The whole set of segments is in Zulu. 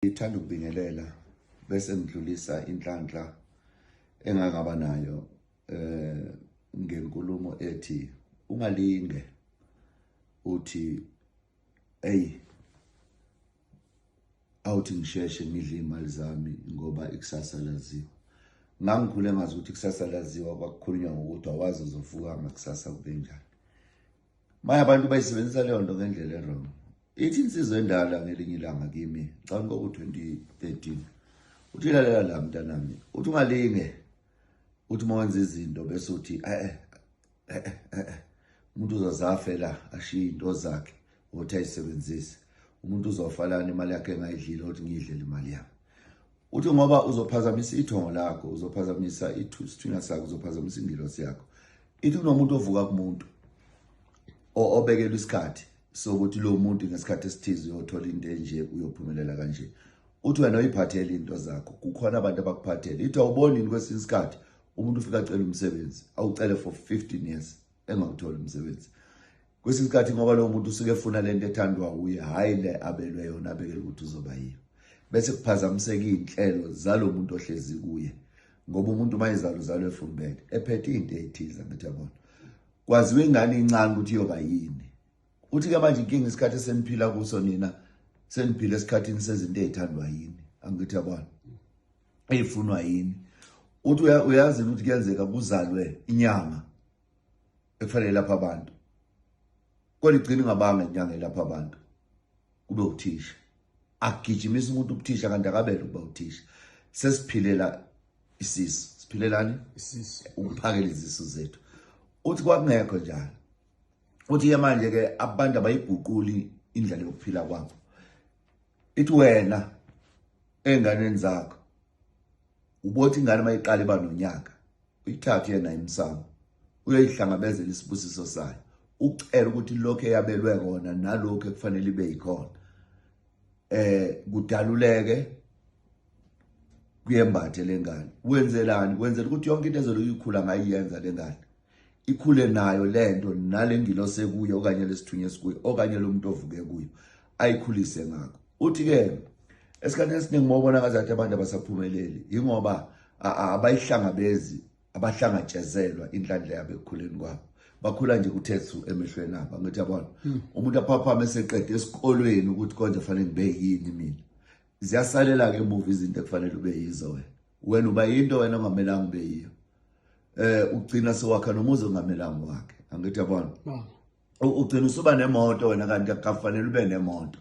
Ngithanda ukubingelela bese ngidlulisa inhlanhla engangaba nayo eh ngenkulumo ethi ungalinge uthi hey awuthi ngisheshe ngidle imali zami ngoba ikusasa laziwa ngangikhule ngazi ukuthi ikusasa laziwa kwakukhulunywa ngokuthi awazi uzovuka ngakusasa kube njani Maya abantu bayisebenzisa leyo nto ngendlela erong ithi insizwa endala ngelinye ilanga kimi cani kwaku-2013 uthi lalela la mntanami uthi ungalinge uthi uma wenza izinto bese uthi e-e e-e e-e umuntu uzozafela ashiye into zakhe ukuthi ayisebenzise umuntu uzofa lana imali yakhe engayidlile ukuthi ngiyidlele imali yami Uthi ngoba uzophazamisa ithongo lakho, uzophazamisa isithunywa sakho, uzophazamisa ingilosi yakho. Ithi kunomuntu ovuka kumuntu obekelwe isikhathi sokuthi lo muntu ngesikhathi esithize uyothola into enje uyophumelela kanje. Uthi wena uyiphathele into zakho, kukhona abantu abakuphathele. Ithi awubonini kwesinye isikhathi umuntu ufika acela umsebenzi, awucele for 15 years engawutholi umsebenzi. kwesinye isikhathi ngoba lowo muntu usuke efuna le nto ethandwa wuye hhayi le abelwe yona abekele ukuthi uzoba yiyo bese kuphazamiseka iy'nhlelo zalo muntu ohlezi kuye ngoba umuntu uma izalo zalo efumbele ephethe into eyithize ngithi yabona kwaziwa ingane incane ukuthi iyoba yini uthi-ke manje inkinga isikhathi eseniphila kuso nina seniphila esikhathini sezinto ey'thandwa yini angithi yabona ey'funwa yini uthi uyazini ukuthi kuyenzeka kuzalwe inyanga ekufanele lapha abantu kodwa igcina ingabanga inyanga elapha abantu kube uthisha agijimisa umuntu ubuthisha kanti akabele ukuba uthisha sesiphilela isisu siphilelani isisu ukuphakela izisu zethu uthi kwakungekho njalo uthi ke manje ke abantu abayiguquli indlela yokuphila kwabo ithi wena enganeni zakho ubothi ingane mayiqala iba nonyaka uyithathe yena imsamo uyoyihlangabezela isibusiso sayo ucela ukuthi lokho eyabelwe kona nalokho ekufanele ibe yikhona eh kudaluleke kuyembathe lengane wenzelani wenzela ukuthi yonke into ezoloyikhula ngayiyenza lengane ikhule nayo lento nalengilosi ekuyo okanye lesithunywa esikuyo okanye lomuntu ovuke kuyo ayikhulise ngakho uthi ke esikhathi esiningi mawubona ngazathi abantu abasaphumeleli ingoba abayihlangabezi abahlangatshezelwa inhlanhla yabo ekukhuleni kwabo bakhula nje kuthethu emehlweni abo angithi yabona hmm. umuntu aphaphame eseqede esikolweni ukuthi konje fanele ngibe yini mina ziyasalela ke emuva izinto ekufanele ube yizo wena wena uba yinto wena ongamelanga ube yiyo eh ugcina sewakha nomuzi ongamelanga wakhe angithi yabona ugcina usuba nemoto wena kanti akufanele ube nemoto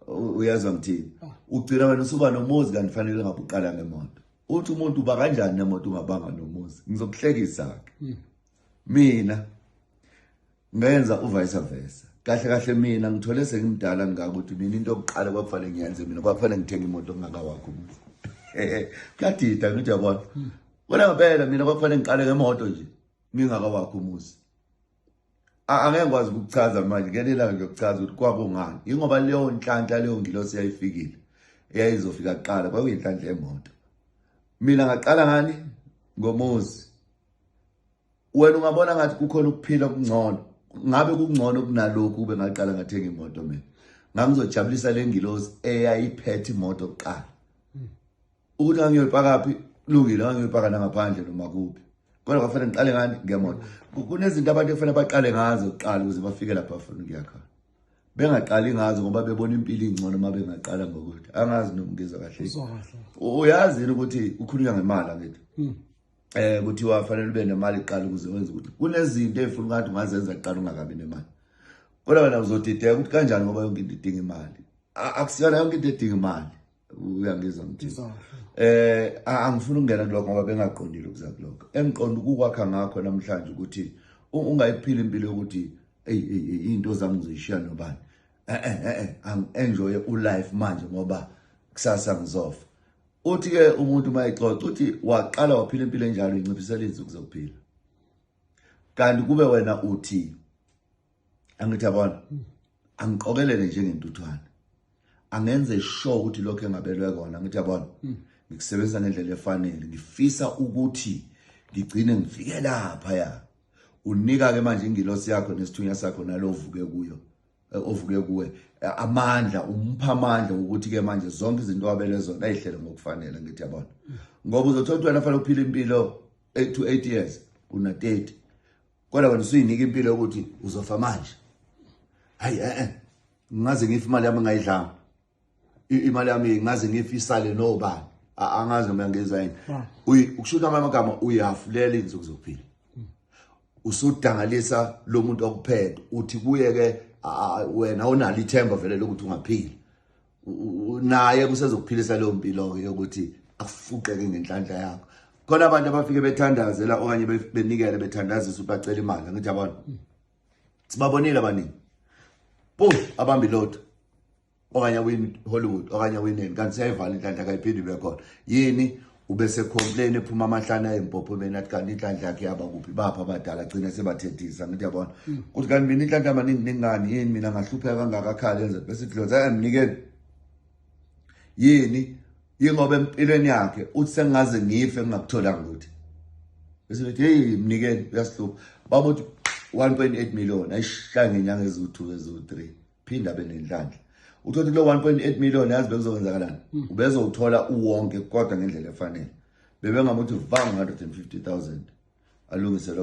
uyezwa ngithini oh. ugcina wena usuba nomuzi kanti fanele ngabe uqala ngemoto uthi umuntu uba kanjani nemoto ungabanga nomuzi ngizokuhlekisa-ke hmm. mina ngenza uvice versa kahle kahle mina ngithole sengimdala ngingakuthi mina into yokuqala kwakufanele ngiyenze mina kwakufanele ngithenge imoto ngingakawakho umuzi kuyadida ngithi yabona hmm. wena ngempela mina kwakufanele ngiqale ngemoto nje ngingakawakho umuzi angeke ngikwazi ukukuchaza manje ngenelanga ngiyokuchaza ukuthi kwakungani yingoba leyo nhlanhla leyo ngilosi yayifikile eyayizofika kuqala kwakuyinhlanhla yemoto mina ngaqala ngani ngomuzi wena ungabona ngathi kukhona ukuphila okungcono ngabe kungcono kunalokhu ube ngaqala ngathenga imoto mina ngangizojabulisa le ngilosi eyayiphethe imoto kuqala ukuthi angiyoyipakaphi kulungile angiyoyipaka nangaphandle noma kuphi kodwa kwafanele ngiqale ngani ngemona kunezinto abantu ekufanele baqale ngazo kuqala ukuze bafike lapha bafuna ukuya khona bengaqali ngazo ngoba bebona impilo ingcono uma bengaqala ngokuthi angazi nomngizwa kahle uyazi yini ukuthi kukhulunywa ngemali angithi hmm. eh kuthiwa fanele ube nemali iqala ukuze wenze ukuthi kunezinto efuna ngathi ungazenza kuqala ungakabi nemali kodwa wena uzodideka ukuthi kanjani ngoba yonke into idinga imali akusiyona yonke into edinga imali uyangizwa mthisa eh angifuni ukungena kuloko ngoba bengaqondile ukuza kuloko engiqonda ukukwakha ngakho namhlanje ukuthi ungayiphila impilo yokuthi eyi eyi into zami ngizishiya nobani eh eh eh, eh angienjoy ulife manje ngoba kusasa ngizofa uthi ke umuntu mayixoxa uthi waqala waphila impilo enjalo inciphisela izinsuku zokuphila kanti kube wena uthi angithi yabona hmm. angiqokelele njengentuthwane angenze sure ukuthi lokho engabelwe kona ngithi yabona hmm. ngikusebenzisa ngendlela efanele ngifisa ukuthi ngigcine ngifike lapha ya unika ke manje ingilosi yakho nesithunya sakho nalovuke kuyo eh, ovuke kuwe eh, amandla umpha amandla ukuthi ke manje zonke izinto wabele zona ayihlele ngokufanele ngithi yabona hmm. ngoba uzothola ukuthi wena fanele uphile impilo 8 to 8 years una 30 kodwa wena usuyinika impilo yokuthi uzofa manje hayi eh eh ngaze ngife imali yami ngayidlanga imali yami ngaze ngife isale nobani angazi noma ngenza yini ukushuta amanye amagama uyafulela insuku zokuphila usudangalisa lo muntu okuphethe uthi kuye ke wena awunalo ithemba vele lokuthi ungaphila naye kusezokuphilisa leyo mpilo-ke yokuthi akufuqeke ngenhlanhla yakho khona abantu abafike bethandazela okanye benikele bethandazisa ukuthi bacela imali angithi abantu sibabonile abaningi bo abambi lotho okanye awin hollywood okanye awineni kanti siyayivala inhlanhla kayiphindi ibe khona yini ubese complain ephuma amahlana ezimpopho mina athi kanti inhlanhla yakhe yaba kuphi bapha abadala gcina sebathethisa ngithi yabona mm. kuthi kanti mina inhlanhla amaningi ningani yini mina ngahlupheka kangaka khale enze bese dloza ayamnikeni yini yingoba empilweni yakhe uthi sengaze ngife ngingakutholanga ukuthi bese ngithi hey mnikeni uyasihlupha babuthi 1.8 million ayishaya ngenyanga eziwu2 eziwu3 phinda abe nenhlanhla uthothi kulo 1.8 million yazi bekuzokwenzakalani hmm. ubezowuthola uwonke kodwa ngendlela efanele bebengamuthi vanga 150000 alungise lokho